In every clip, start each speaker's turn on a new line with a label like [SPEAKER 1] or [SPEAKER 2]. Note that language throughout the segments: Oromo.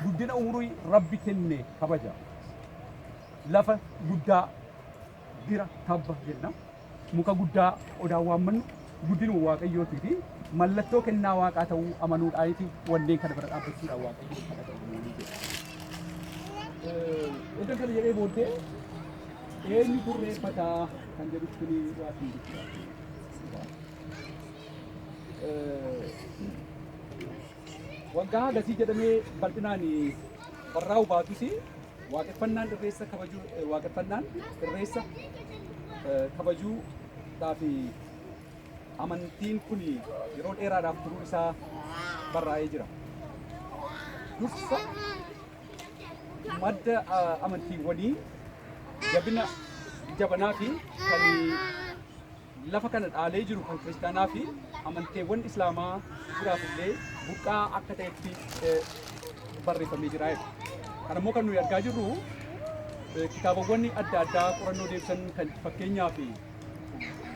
[SPEAKER 1] Guddina umurii rabbi kenne kabaja. Lafa guddaa bira tabba jenna. Muka guddaa odaan waammannu guddinuma waaqayyootii fi mallattoo kennaa waaqaa ta'uu amanuudhaaniiti wanneen kana bira dhaabbachuudhaan waaqayyoo kana ta'uu jedha. Iddoo kana jedhee booddee eenyu turreeffataa kan jedhutti ni waa hin jira. Waggaa hagasii jedhamee bal'inaan barraa'u baatus waaqeffannaan irreessa kabajuu waaqeffannaan irreessa kabajuu fi amantiin kun yeroo dheeraadhaaf turuu isaa barraa'ee jira. Dursa madda amantiiwwanii jabina jabanaa fi kan lafa kana dhaalee jiru kan kiristaanaa fi amanteewwan islaamaa jiraaf illee buqqaa akka ta'etti barreeffamee jira. Kan immoo kan nuyi argaa jirru kitaabawwan adda addaa qorannoo deebisan kan fakkeenyaa fi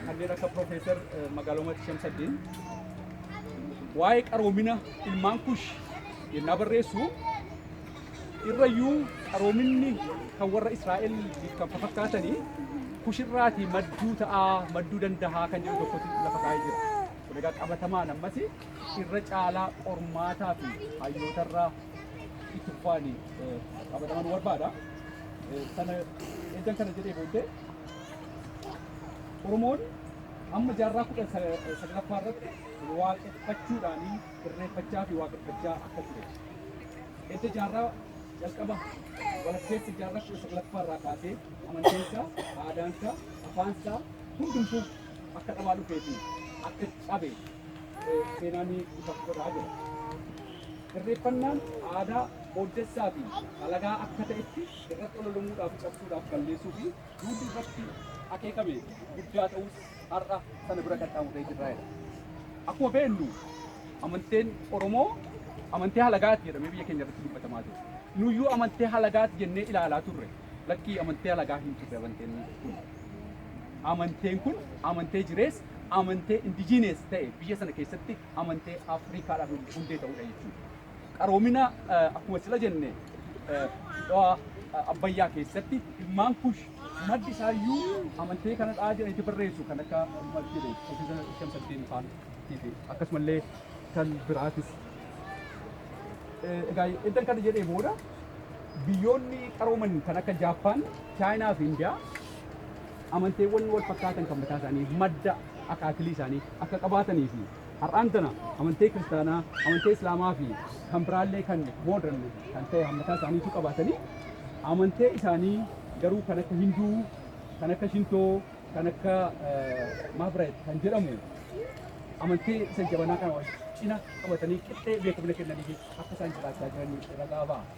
[SPEAKER 1] kanneen akka Piroofeesar Magaaloomaatti Shamsaddiin waa'ee qaroomina ilmaan kush yennaa barreessu irrayyuu qaroominni kan warra Israa'el kan fakkaatanii kushirraatii madduu ta'aa madduu dandahaa kan jedhu tokkotti lafa kaa'ee jira. Kun egaa qabatamaan ammas irra caalaa qormaataa fi hayyootarraa itti fufaanii qabatamaa nu barbaada. Sana eddan kana jedhee booddee Oromoon amma jaarraa kudha saglaffaa irratti waaqeffachuudhaanii sirreeffachaa fi waaqeffachaa akka ture. Edda jaarraa jalqaba walakkeessa jaarraa kudha saglaffaa irraa kaasee amantiinsaa, aadaansaa, afaansaa hundumtuu akka dhabaa dhufee fi akka cabe eh, seenaan ni ifa godhaa jira. Sirreeffannaan aadaa booddessaa fi halagaa akka ta'etti irratti ololamuudhaaf cabsuudhaaf balleessuu fi duudii irratti akeekame guddaa ta'us har'a sana bira qaxxaamurree jirra jedha. Akkuma beeknu amanteen Oromoo amantee halagaati jedhamee biyya keenya irratti dubbatamaa ture. Nuyyuu amantee halagaati jennee ilaalaa turre. Lakkii amantee halagaa hin turre amanteen kun. Amanteen kun amantee jirees amantee indijiinees ta'e biyya sana keessatti amantee Afrikaadhaaf hundee ta'uudha jechuudha. Qaroomina eh, akkuma sila jenne eh, dhawaa eh, abbayyaa keessatti ilmaan kush Maddi isaayyuu amantee kana dhaa jedhanii itti barreessu kan akka masjida Ofiisa Shamsaddiin faan fi akkasumallee kan biraatis. Egaa eddan kana jedhee booda biyyoonni qarooman kan akka Jaappaan, Chaayinaa fi Indiyaa amanteewwan wal fakkaatan kan mataa isaanii madda akaakilii isaanii akka qabaatanii fi Har'aan tana amantee kiristaanaa, amantee islaamaa fi kan biraallee kan modern kan ta'e hammataa isaaniitu qabaatanii amantee isaanii garuu kan akka hinduu, kan akka shintoo, kan akka maabiraayit kan jedhamu amantee isa jabanaa kana wal cina qabatanii qixxee beekamina kennanii fi akka isaan jiraachaa jiran ragaa ba'a.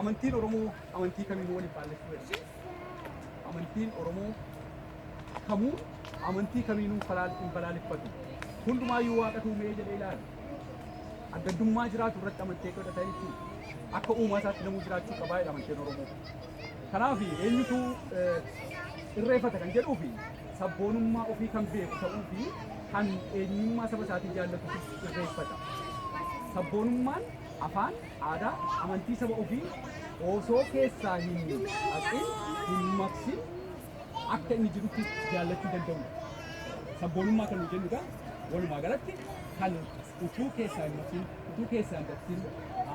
[SPEAKER 1] Amantiin Oromoo amantii kamiinuu waliin faallessuu danda'u. Amantiin Oromoo kamuu amantii kamiinuu falaal hin balaaleffatu. Hundumaayyuu waaqatu uumee jedhee ilaala. Adda addummaa jiraatu irratti amantee godhata jechuudha. Akka uumaa isaatti namuu jiraachuu qabaa jedha amanteen Oromoo. Kanaaf eenyutu eh, irreeffata kan jedhuu fi sabboonummaa ofii kan beeku ta'uu fi kan eenyummaa saba isaatii jaallatu irreeffata. Sabboonummaan Afaan, aadaa, amantii saba ofii osoo keessaa hin haqin, hin maqsin akka inni jirutti jaallachuu danda'uu dha. Sabboonummaa kan nuyi jennu egaa walumaa galatti kan utuu keessaa hin maqsin, utuu keessaa hin baqsin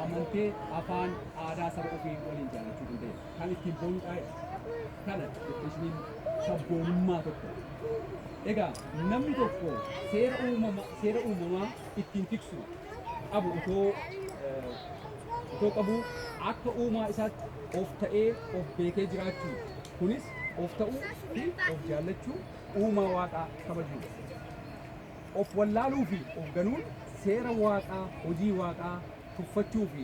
[SPEAKER 1] amantee, afaan, aadaa saba ofii waliin jaallachuu danda'e kan ittiin boonu dha jedha. Kana definishiniin sabboonummaa tokko. Egaa namni tokko seera uumama, seera uumamaa ittiin tiksu qabu otoo otoo qabuu akka uumaa isaatti of ta'ee of beekee jiraachuu kunis of ta'uu fi of jaallachuu uumaa waaqaa kabajuudha. Of wallaaluu fi of ganuun seera waaqaa hojii waaqaa tuffachuu fi